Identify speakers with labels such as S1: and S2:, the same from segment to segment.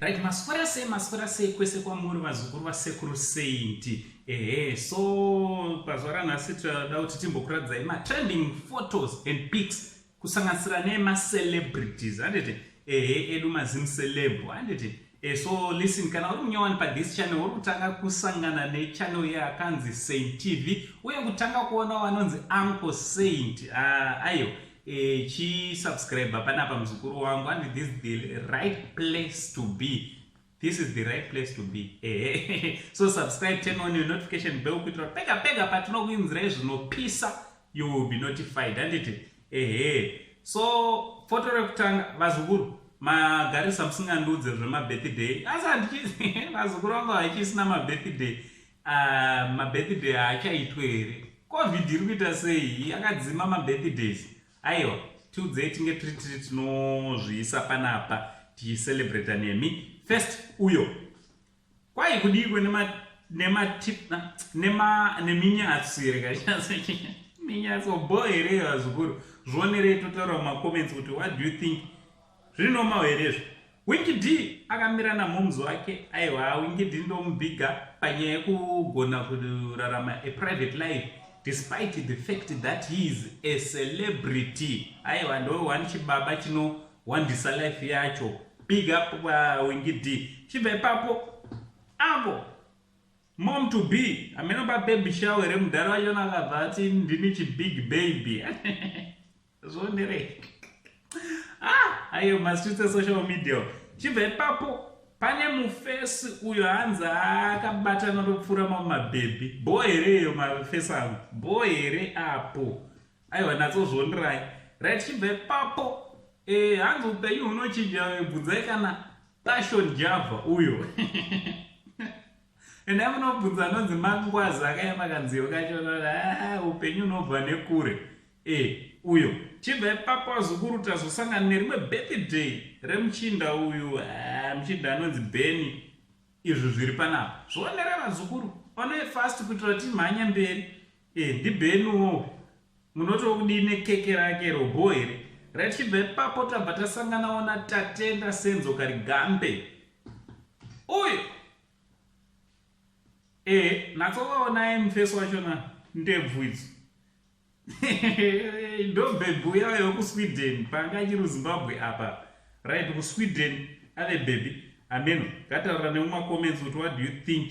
S1: right maswera sei maswera sei kwese kwamuri vazukuru vasekuru saint ehe so pazuva ranhasi tinoda kuti timbokuratidzai matrending photos and pics kusanganisira nemacelebrities handiti ehe edu mazim celeb handiti Eh, so listen kana uri munyowani pa this channel uri kutanga kusangana ne channel ye akanzi saint tv uye kutanga kuona wanonzi uncle saint uh, ah, ayo eh, chi subscribe pana pa muzukuru wangu and this is the right place to be this is the right place to be eh, so subscribe turn on your notification bell kuitira pega pega patinokuinzirai zvinopisa you will be notified anditi Ehe. So photo rekutanga vazukuru magarisa musingandiudze zvemabirthday asi handichizi vazukuru vangu havachisina mabirthday ah, mabirthday haachaitwe here covid iri kuita sei yakadzima mabirthdays aiwa tiudzei tinge tiri tiri tinozviisa panapa ticicelebrata nemi first uyo Kwai kudikwe nema nema tip nema neminyatsi here kanyatsi minyatsi obo here vazukuru zvionerei totaura muma comments kuti what do you think zviri normal here izvo Winky D akamira namomz wake aiwa Winky D ndomubhiga panyaya yekugona kurarama a private life despite the fact that he is a celebrity aiwa ndo one chibaba chinowandisa life yacho big up uh, wingi d chibva ipapo avo mom to be ameno babebi shawe re mudhara wachona akabva ati ndini chibig baby zvonderei ah ayo mastreets esocial media chibva ipapo pane mufesi uyo hanzi akabatana topfuura mamabhebhi bho here iyo mafesi angu bho here apo aiwa natsozvondirai right chibve papo eh, hanzi upenyu hunochinja bvunzai kana passion java uyo ende amunobvunza anonzi mangwazi akayema kanziyo kacho ah, upenyu unobva nekure e uyo chibva ipapo azukuru tazosangana nerimwe birthday remuchinda uyu ah, muchinda anonzi beni izvi zviri panapa zvionere vazukuru onoe fast kuitira timhanya mberi Eh, ndibenuwo munoti okudii nekeke rake robo here rachibva ipapo tabva tasanganawo natatenda senzo karigambe uyo e natsovaonaye mufesi wachona ndebvu idzo ndobhebhi uyayo kusweden panga achiri uzimbabwe apa right kusweden ave bhebhi ameno ngataura nemumacomments kuti what do you think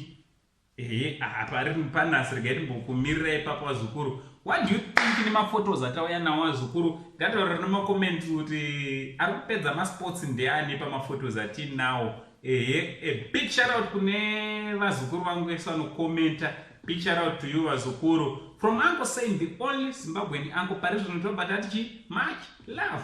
S1: Ehe, aha pari panas regai timbokumirira ipapo wazukuru. What do you think nemaphotos atauya nawo wazukuru? Ngataurira nemacoment kuti ari kupedza masports ndeani pamaphotos atinawo. Ehe, a big shout out kune vazukuru vangu vese vanokomenta. Big shout out to you vazukuru. From uncle saying the only Zimbabwean uncle pari zvino tobata tichi much love.